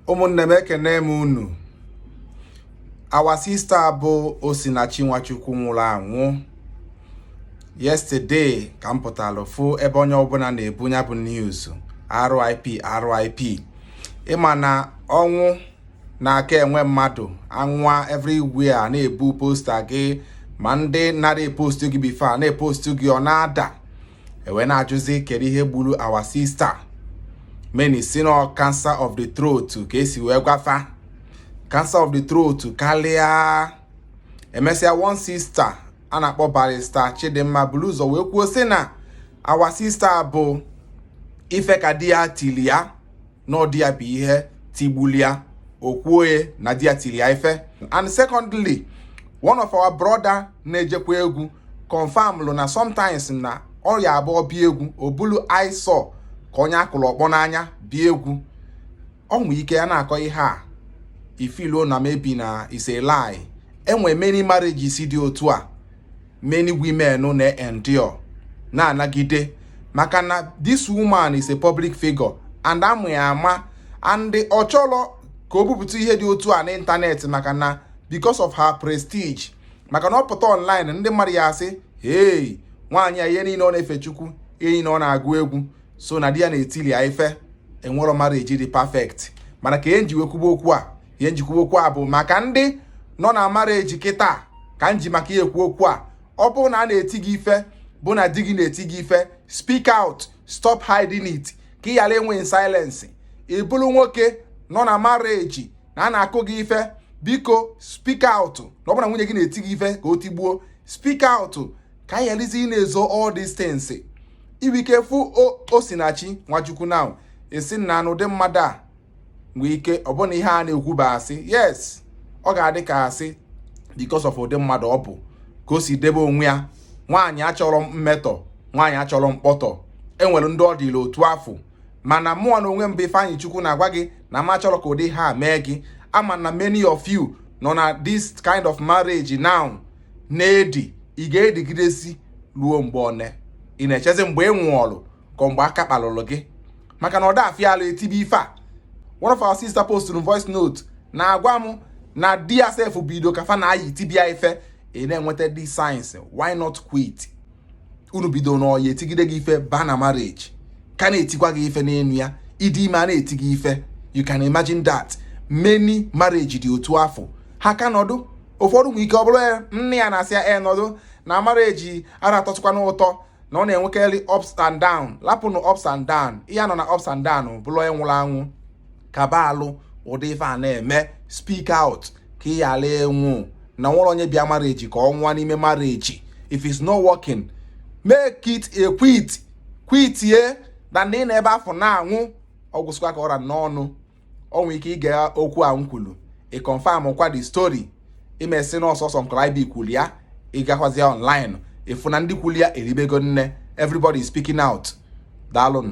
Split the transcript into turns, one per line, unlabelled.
ụmụnne m ekene m unu our sister bụ Osinachi Nwachukwu nwụrụ anwụ yesterday ka m pụtara fụ ebe onye ọbụla na-ebu nya bụ news RIP RIP ịma na ọnwụ na-aka enwe mmadụ anwa everywhere na-ebu poster gị ma ndị nara epostu gị before na-epostu gị ọ na-ada ewee na-ajụzi kedu ihe gburu our sister many sị na cancer of the throat ka e si wee gwa fa cancer of the throat karịa emesịa one sister a na-akpọ barrister Chidimma bulu ụzọ wee kwuo sị na our sister bụ ife ka di ya tili ya na ọ di ya bụ ihe tigbuli ya okwuoye na di ya tili ya ife and secondly one of our brother na-ejekwa egwu confirmlụ na sometimes na ọ ya-abụ ọ bịa egwu o bulu eyes ka onye a kụlụ ọkpọ n'anya bịa egwu o nwee ike a na-akọ ihe a i feeluo na maybe na is a lie enwe many marriages dị otu a many women na-endure na-anagide maka na this woman is a public figure and a ma ya ama and ọ chọrọ ka o bupụta ihe dị otu a n'ịntanetị maka na because of her prestige maka na ọ pụta online ndị mmadụ ya-asị hey nwaanyị a ihe niile ọ na-efe Chukwu ihe niile ọ na-agụ egwu so na di ya na-etili ya ife enwerọ marriage dị perfect mana ka m ji wee kwuba okwu a ihe m ji kwuba okwu a bụ maka ndị nọ na marriage kịta ka m ji maka ya ekwu okwu a ọ bụrụ na a na-eti gị ife bụ na di gị na-eti gị ife speak out stop hiding it ka ị ghara ịnwụ in silence ị bụrụ nwoke nọ na marriage na a na-akụ gị ife biko speak out na ọ bụrụ na nwunye gị na-eti gị ife ka o tigbuo speak out ka anyị gharazi ịna-ezo all these things i nwee ike fụ Osinachi Nwachukwu now ị sị na na ụdị mmadụ a nwee ike ọ bụ na ihe a na-ekwu bụ asị yes ọ ga-adị ka asị because of ụdị mmadụ ọ bụ ka o si debe onwe ya nwaanyị achọrọ mmetọ nwaanyị achọrọ mkpọtụ enwere ndị ọ dịla otu afụ mana mụwa na onwe m bụ Ifeanyichukwu na-agwa gị na m achọrọ ka ụdị ihe a mee gị ama na many of you nọ na this kind of marriage now na-edi ị ga-edigidezi ruo mgbe one ị na-echezi mgbe ị nwụọlụ ka ọ mgbe aka kpalụrụ gị maka na ọ da afịa ala etibe ife a one of our sister posted voice note na-agwa m na di ya sef bido ka fa na-ayị tibe ya ife ị na-enweta the signs why not quit unu bido n'ọyị etigide gị ife ba na marriage ka na-etikwa gị ife n'enu ya ịdị ime a na-eti gị ife you can imagine that many marriage dị otu afụ ha ka nọdụ ụfọdụ nwere ike ọ bụrụ nne ya na-asị ya e nọdụ na marriage anara atọkwanụ ụtọ na ọ na-enwekarị ups and down lapụnụ ups and down ị ga-anọ na ups and down bụrụ onye nwụrụ anwụ kabalụ ụdị ife a na-eme speak out ka ị ghara ịnwụ na enwerọ onye bịa marriage ka ọ nwụọ n'ime marriage if it's not working make it a quit quit ye na ndị nọ ebe afụ na-anwụ ọ gwụsịkwa ka ọ ra m n'ọnụ o nwere ike ị gee okwu a m kwuru ị confirm kwa the story ị ma sị na ọ sọsọ nkọrọ ibi kwuru ya ị gakwazịa online ị fụ na ndị kwuru ya eribego nne everybody is speaking out daalụnụ